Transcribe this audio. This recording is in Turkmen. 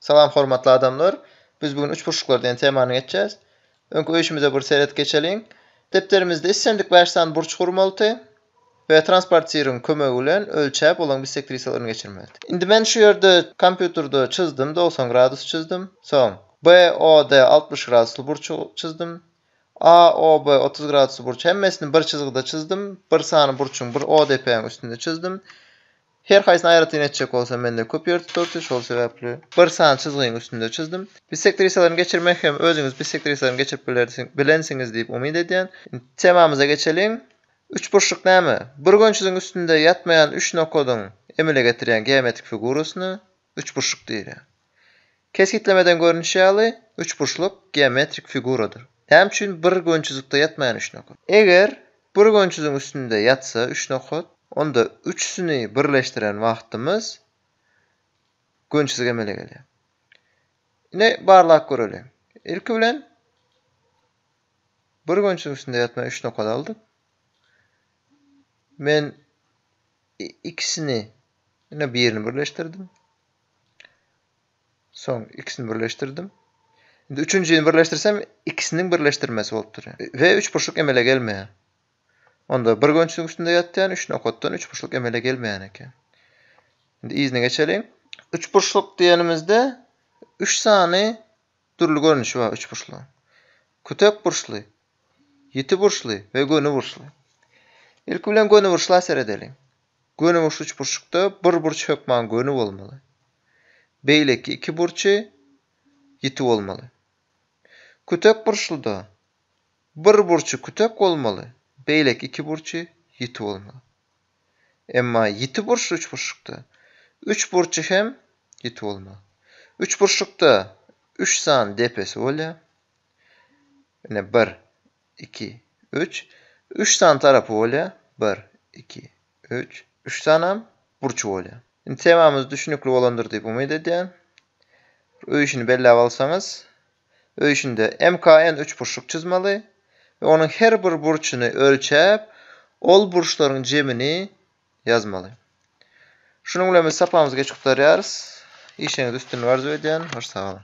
Salam hormatly adamlar. Biz bu gün üçburçluklar diýen temany geçýäs. Öňki öýşümize bir seret geçeliň. Depderimizde islendik bäş sany burç gurmalydy we transpartiryň kömegi bilen ölçäp olaň bisektrisalaryn geçirmelidi. Indi men şu ýerde kompýuterde çyzdym dogsan gradus çyzdym. Soň BOD altmyş gradusly burçy çyzdym. AOB otuz gradusly burç hemmesini bir çyzgyda çyzdym. Bir sany burçuň bir ODP-iň üstünde çyzdym. Her haýsyny aýratyn etjek bolsam mende köp ýer tutardy, şol sebäpli bir sany çyzgyň üstünde çyzdym. Bissektrisalarny geçirmek hem özüňiz bissektrisalarny geçirip bilersiň, bilensiňiz diýip umyt edýän. Temamyza geçeliň. Üçburçluk näme? Burgençiziň üstünde ýatmaýan üç nokadyň emele getirýän geometrik figurasyny, Üçburçluk diýilýär. Kesgitlemeden görnüşi ýaly, üçburçluk geometrik figuradyr. Näme üçin bir gönçüzlikde ýatmaýan üç nokat? Eger bir gönçüziň üstünde ýatsa üç nokat, onda üçüsini birleşdiren wagtymyz gönçüzik emele gelýär. Ine, barlap göreliň. Ilki bilen bir gönçüziň üstünde ýatmaýan üç nokat aldyk. Men ikisini ýene birini birleşdirdim. Soň ikisini birleşdirdim. Indi üçünjini birleşdirsem, ikisiniň birleşdirmesi bolup durýar. We üçburçluk emele gelmeýär. Onda bir gönçüň üstünde ýatýan üç nokatdan üçburçluk emele gelmeýän eken. Indi yzyna geçeliň. Üçburçluk diýenimizde üç sany dürli görnüşi bar üçburçlugyň. Kütek burçly, Ýiti burçly we göni burçly. Ilki bilen göni burçla seredeliň. Göni burçly üçburçlukda bir burç hökman göni bolmaly. Beýleki iki burçy ýiti bolmaly. Kütek burçluda bir burçy kütek bolmaly, beýleki iki burçy ýiti bolmaly. Emma ýiti burçly üçburçlukda üç burçy hem ýiti bolmaly. Üçburçlukda üç sany depesi bolýar. Ine, bir, iki, üç. Üç sany tarapy bolýar. Bir, iki, üç. Üç sanam burçy bolýar. Indi temamyz düşnükli bolandyr diýip umyt edýän. Öý işini belläp alsaňyz, öý işinde MKN üçburçluk çyzmaly we onuň her bir burçuny ölçäp, ol burçlaryň jemini ýazmaly. Şunuň bilen biz sapamyzy geçip gutarýarys. Işiňiz üstünlik arzuw edýän. Hoş sag boluň.